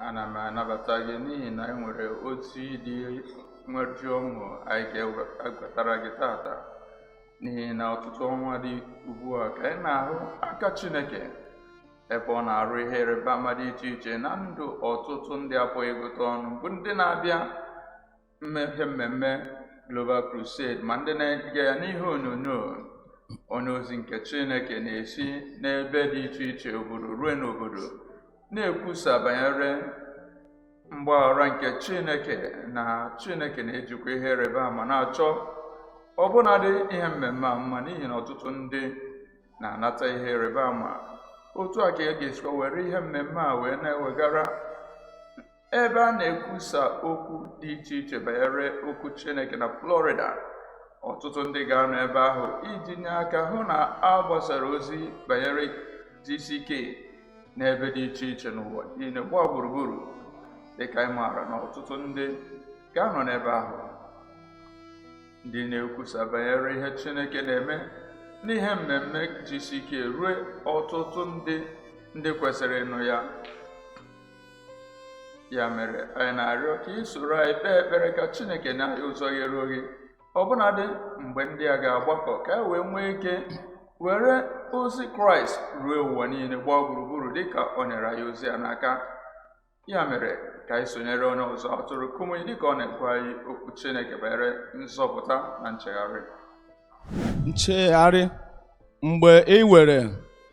ana m anabata gị n'ihi na anyị nwere otu ịdị nweju ọṅụ anyị ga-ewetara gị tata n'ihi na ọtụtụ ọnwa dị ugbu a ka ị na-ahụ aka Chineke ebe ọ na-arụ ihe ịrịba ama dị iche iche na ndụ ọtụtụ ndị a pụghị ịgụta ọnụ bụ ndị na-abịa n'ihe mmemme Global Crusade ma ndị na-ege ya n'ihe onyonyo onye ozi nke Chineke na-esi n'ebe dị iche iche obodo ruo n'obodo na-ekwusa banyere mgbaghara nke chineke na chineke na-ejikwa ihe ịrịba ama na-achọ ọbụnadị ihe mmemme a mma n'ihi na ọtụtụ ndị na-anata ihe ịrịba ama otu a ka a ga-esikwa were ihe mmemme a wee na-ewegara ebe a na-ekwusa okwu dị iche iche banyere okwu chineke na Florida ọtụtụ ndị ga-anọ ebe ahụ iji nye aka hụ na a gbasara ozi banyere GCK n'ebe dị iche iche n'ụwa niile gbaa gburugburu dịka anyị maara na ọtụtụ ndị ga-anọ n'ebe ahụ ndị na-ekwusa banyere ihe Chineke na-eme n'ihe mmemme GCK rue ọtụtụ ndị ndị kwesịrị ịnụ ya ya mere anyị na-arịọ ka ị soro anyị kpee ekpere ka Chineke nye anyị ụzọ ghere oghe ọbụnadị mgbe ndị a ga-agbakọ ka e wee nwee ike were ozi kraịst ruo ụwa niile gbaa gburugburu dịka o nyere anyị ozi ya n'aka ya mere ka anyị sonyere onye ọzụzụ atụrụ Kumuyi dịka ọ na-agwa anyị okwu chineke banyere nzọpụta na nchegharị nchegharị mgbe ị were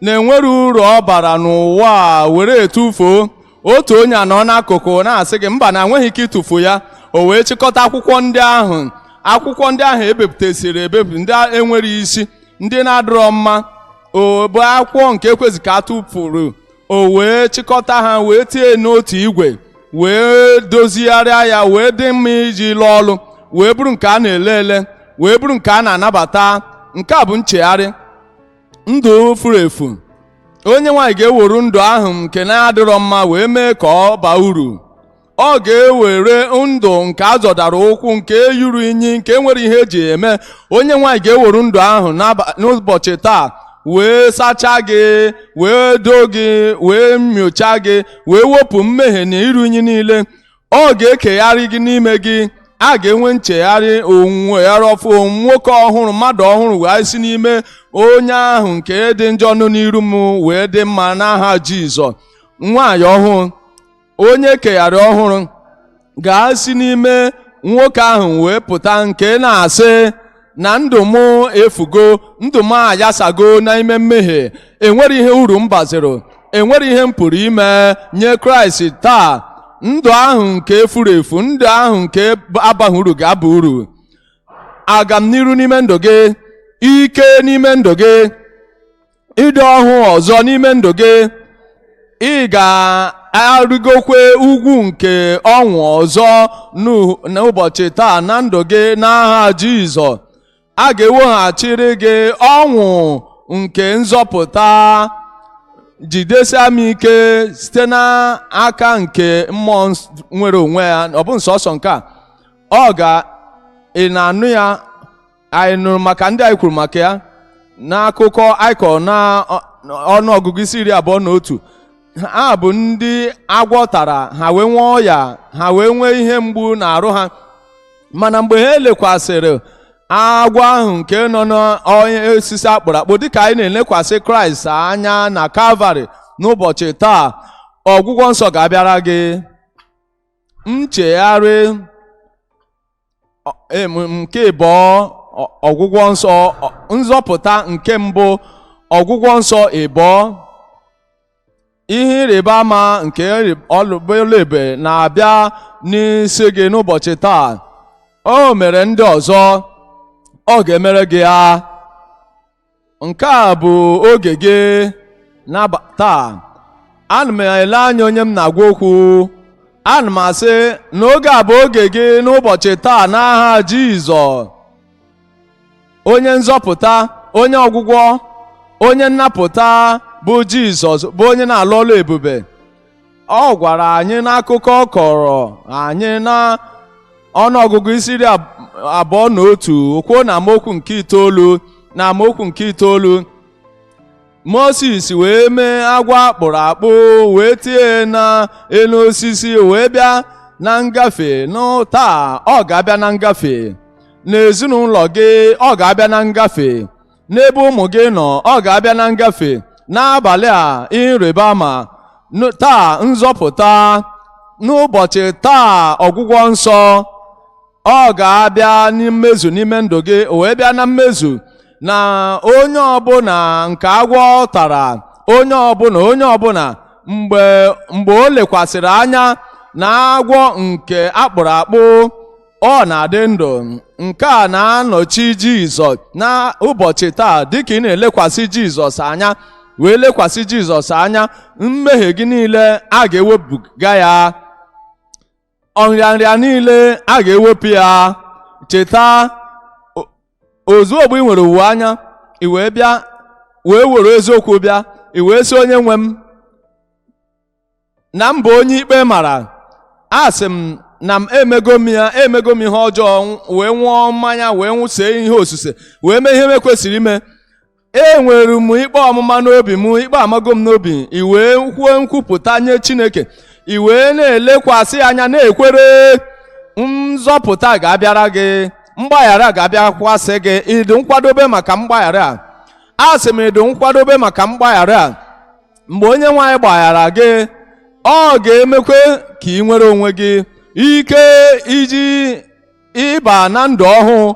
na-enwero uru ọ bara n'ụwa a were etufuo otu onye anọ n'akụkụ na-asị gị mba na i nweghị ike ịtụfu ya o wee chịkọta akwụkwọ ndị ahụ akwụkwọ ndị ahụ e bepụtasịrị ebepụ ndị a enwero isi ndị na-adịrọ mma ọ bụ akwụkwọ nke e kwesị ka a tụpụrụ o wee chịkọta ha wee tie n'otu igwe wee dozigharịa ya wee dị mma iji lụọ ọlụ wee bụrụ nke a na-ele ele wee bụrụ nke a na-anabata nke a bụ nchegharị ndụ furu efu Onyenwe anyị ga-ewere ndụ ahụ nke na-adịrọ mma wee mee ka ọ baa uru ọ ga-ewere ndụ nke a zọdara ụkwụ nke ruru inyi nke enwero ihe e ji eme Onyenwe anyị ga-ewere ndụ ahụ n'ụbọchị taa wee sachaa gị wee doo gị wee nyochaa gị wee wepụ mmehie na iru inyi niile ọ ga-ekegharị gị n'ime gị a ga-enwe nchegharị nnwogharị ọfụụ nwoke ọhụrụ mmadụ ọhụrụ ga-esi n'ime onye ahụ nke dị njọ nọ n'iru m wee dị mma n'aha Jizọs nwaanyị ọhụrụ onye kegharị ọhụrụ ga-esi n'ime nwoke ahụ wee pụta nke na-asị na ndụ m efugo ndụ m ayasago n'ime mmehie enwere ihe uru m baziri enwere ihe m pụrụ ime nye kraịst taa ndụ ahụ nke furu efu ndụ ahụ nke abaghị uru ga-aba uru agamniru n'ime ndụ gị ike n'ime ndụ gị ịdị ọhụụ ọzọ n'ime ndụ gị ị ga-arịgokwe ugwu nke ọṅụ ọzọ n'u- n'ụbọchị taa na ndụ gị n'aha Jizọs a ga-eweghachiri gị ọṅụ nke nzọpụta jidesia m ike site n'aka nke mmụọ ns- nwere onwe ya ọ bụ nsọsọ nke a ọ ga ị na-anụ ya anyị nụrụ maka ndị anyị kwuru maka ya n'akụkọ anyị kọrọ na ọ- ọnụ ọgụgụ isi iri abụọ na otu ha bụ ndị agwọ tara ha wee nwee ọya ha wee nwee ihe mgbu n'arụ ha mana mgbe ha elekwasịrị agwọ ahụ nke nọ n'enu osisi a kpụrụ akpụ dịka anyị na-elekwasị kraịst anya na kalvarị n'ụbọchị taa ọgwụgwọ nsọ ga-abịara gị nchegharị nke ịbụọ ọgwụgwọ nsọ nzọpụta nke mbụ ọgwụgwọ nsọ ịbụọ ihe ịrịba ama nke ọlụ ebube na-abịa n'isi gị n'ụbọchị taa o mere ndị ọzọ ọ ga-emere gị ya nke a bụ oge gị n'abalị taa ana m ele anya onye m na-agwa okwu ana m asị na oge a bụ oge gị n'ụbọchị taa n'aha Jizọs onye nzọpụta onye ọgwụgwọ onye nnapụta bụ Jizọs bụ onye na-alụ ọlụ ebube ọ gwara anyị n'akụkọ ọ kọrọ anyị na ọnụọgụgụ isi iri ab- abụọ na otu kwuo na amaokwu nke itoolu na amaokwu nke itoolu Moses wee mee agwọ a kpụrụ akpụ wee tie na enu osisi wee bịa na ngafe nụ taa ọ ga-abịa na ngafe n'ezinụlọ gị ọ ga-abịa na ngafe n'ebe ụmụ gị nọ ọ ga-abịa na ngafe n'abalị a ịrịba ama taa nzọpụta n'ụbọchị taa ọgwụgwọ nsọ ọ ga-abịa mmezu n'ime ndụ gị o wee bịa na mmezu na onye ọbụla nke agwọ tara onye ọbụla onye ọbụla mgbe o lekwasịrị anya na agwọ nke akpụrụ akpụ ọ na-adị ndụ nke a na-anọchi jizọs n'ụbọchị taa dịka ị na-elekwasị jizọs anya wee lekwasị jizọs anya mmehie gị niile a ga-ewepụga ya ọnrịanrịa niile a ga-ewepụ ya cheta ozugbo ị nwere uwe anya i wee bịa wee were eziokwu bịa i wee sị onye nwe m na m bụ onye ikpe mara asị m na m emego m emego m ihe ọjọọ wee ṅụọ mmanya wee see ihe osise wee mee ihe m ekwesịghị ime enwere m ikpe ọmụma n'obi m ikpe amago m n'obi i wee kwuo nkwupụta nye Chineke i wee na-elekwasị ya anya na-ekwere nzọpụta ga-abịara gị mgbaghara ga-abịakwasị gị ị dị nkwadobe maka mgbaghara a asị m ị dị nkwadobe maka mgbaghara a mgbe onye nwe anyị gbaghara gị ọ ga-emekwe ka ị nwere onwe gị ike iji ịba na ndụ ọhụụ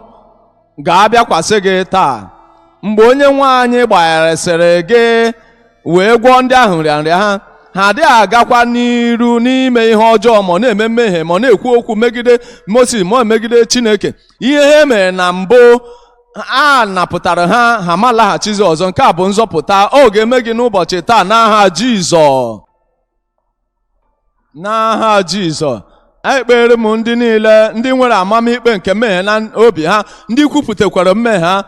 ga-abịakwasị gị taa mgbe onye nwe anyị gbagharasịrị gị wee gwọọ ndị ahụ nrịanrịa ha ha adịghị agakwa n'iru n'ime ihe ọjọọ ma ọ na-eme mmehie ma ọ na-ekwu okwu megide Moses ma ọ megide Chineke ihe ha mere na mbụ a napụtara ha ha ma laghachizi ọzọ nke a bụ nzọpụta ọ ga-eme gị n'ụbọchị taa n'aha jizọs n'aha jizọs ekpeere m ndị niile ndị nwere amamikpe nke mmehie na obi ha ndị kwupụtakwara mmehie ha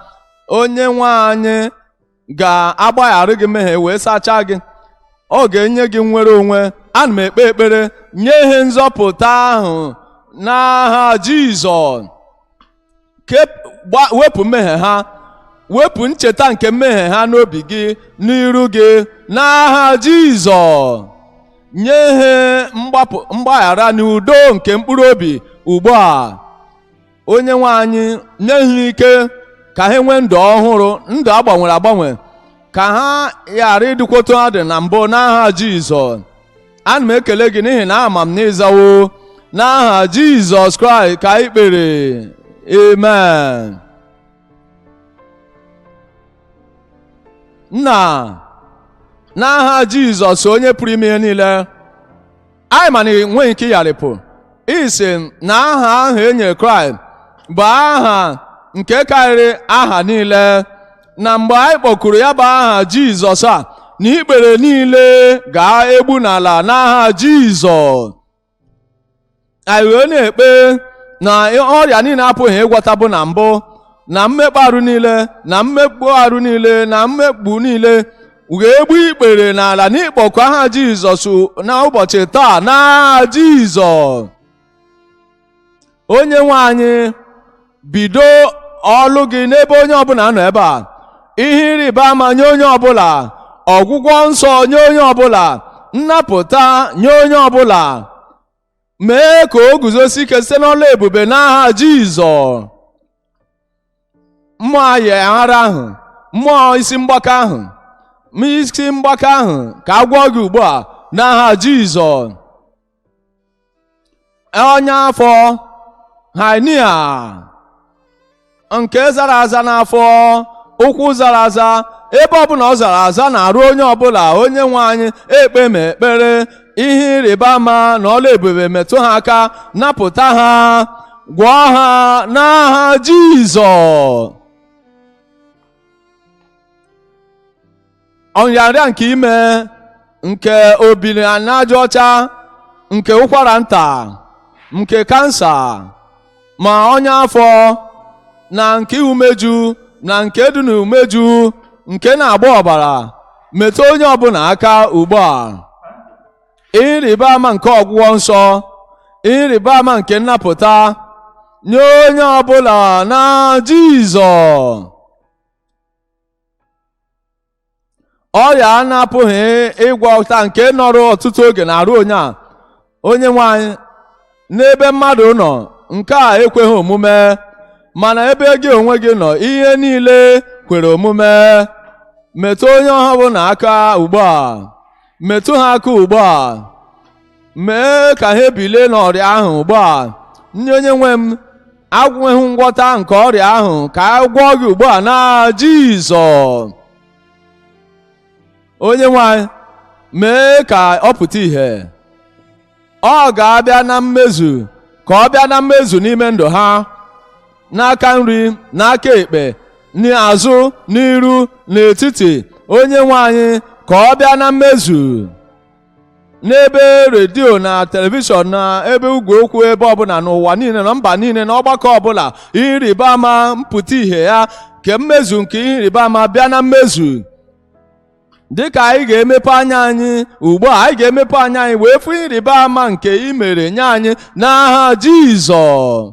onye nwe anyị ga-agbaghara gị mmehie wee sachaa gị ọ ga-enye gị nnwere onwe ana m ekpe ekpere nye ha nzọpụta ahụ n'aha Jizọs wepụ mmehie ha wepụ ncheta nke mmehie ha n'obi gị n'iru gị n'aha Jizọs nye ha mgbaghara na udo nke mkpụrụ obi ugbu a onye nwe anyị nye ha ike ka ha nwee ndụ ọhụrụ ndụ a gbanwere agbanwe ka ha ghara ịdịkwa otu ha dị na mbụ n'aha jizọs ana m ekele gị n'ihi na ama m na ị zawo n'aha jizọs kraịst ka anyị kpere amen nna n'aha jizọs onye pụrụ ime ihe niile anyị ma na ị nweghị ike ịgharịpụ i sị na aha ahụ e nyere kraịst bụ aha nke karịrị aha niile na mgbe anyị kpọkuru ya bụ aha jizọs a na ikpere niile ga-egbu n'ala n'aha jizọs anyị wee na-ekpe na ọrịa niile a pụghị ịgwọta bụ na mbụ na mmekpa arụ niile na mmegbu arụ niile na mmegbu niile ga-egbu ikpere n'ala n'ịkpọku aha jizọs n'ụbọchị taa n'aha jizọs onye nwe anyị bido ọlụ gị n'ebe onye ọbụla nọ ebe a ihe ịrịba ama nye onye ọbụla ọgwụgwọ nsọ nye onye ọbụla nnapụta nye onye ọbụla mee ka o guzosi ike site n'ọlụ ebube n'aha jizọs mmụọ ayịghara ahụ mmụọ isi mgbaka ahụ ma isi mgbaka ahụ ka a gwọọ gị ugbu a n'aha Jizọs ọnya afọ hernia nke zara aza n'afọ ụkwụ zara aza ebe ọbụla ọ zara aza n'arụ onye ọbụla onye nwe anyị ekpe m ekpere ihe ịrịba ama na ọlụ ebube metụ ha aka napụta ha gwọọ ha n'aha jizọs nrịanrịa nke ime nke obiri n'aja ọcha nke ụkwara nta nke kansa ma ọnya afọ na nke umeju na nke dị n'umeju nke na-agba ọbara metụ onye ọbụla aka ugbu a ihe ịrịba ama nke ọgwụgwọ nsọ ihe ịrịba ama nke nnapụta nye onye ọbụla n'aha Jizọs ọrịa a na-apụghị ịgwọta nke nọrọ ọtụtụ oge n'arụ onye a onye nwe anyị n'ebe mmadụ nọ nke a ekweghị omume ma n'ebe gị onwe gị nọ ihe niile kwere omume metụ onye ọbụla aka ugbu a metụ ha aka ugbu a mee ka ha ebilie n'ọrịa ahụ ugbu a ndị onye nwe m agwụghị ngwọta nke ọrịa ahụ ka a gwọọ gị ugbu a n'aha Jizọs onye nwe anyị mee ka ọ pụta ìhè ọ ga-abịa na mmezu ka ọ bịa na mmezu n'ime ndụ ha n'aka nri n'aka ekpe n'azụ n'iru n'etiti onye nwe anyị ka ọ bịa na mmezu n'ebe redio na telivishọn na ebe igwe okwu ebe ọbụla n'ụwa niile na mba niile na ọgbakọ ọbụla ihe ịrịba ama mpụta ihe ya ka mmezu nke ihe ịrịba ama bịa na mmezu dịka anyị ga-emepe anya anyị ugbu a anyị ga-emepe anya anyị wee fụ ihe ịrịba ama nke i mere nye anyị n'aha Jizọs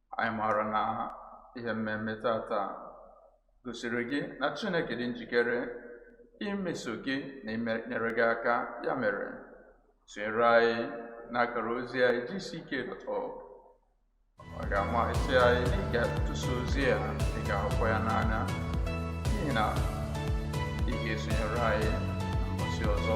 anyị maara na ihe mmemme tata gosiri gị na Chineke dị njikere imeso gị na inyere gị aka ya mere sonyere anyị n'akara ozi anyị gck.org ọ ga-amasị anyị na ị ga-atụsa ozi a ị ga-ahụkwa ya n'anya n'ihi na ị ga-esonyere anyị n'ụbọchị ọzọ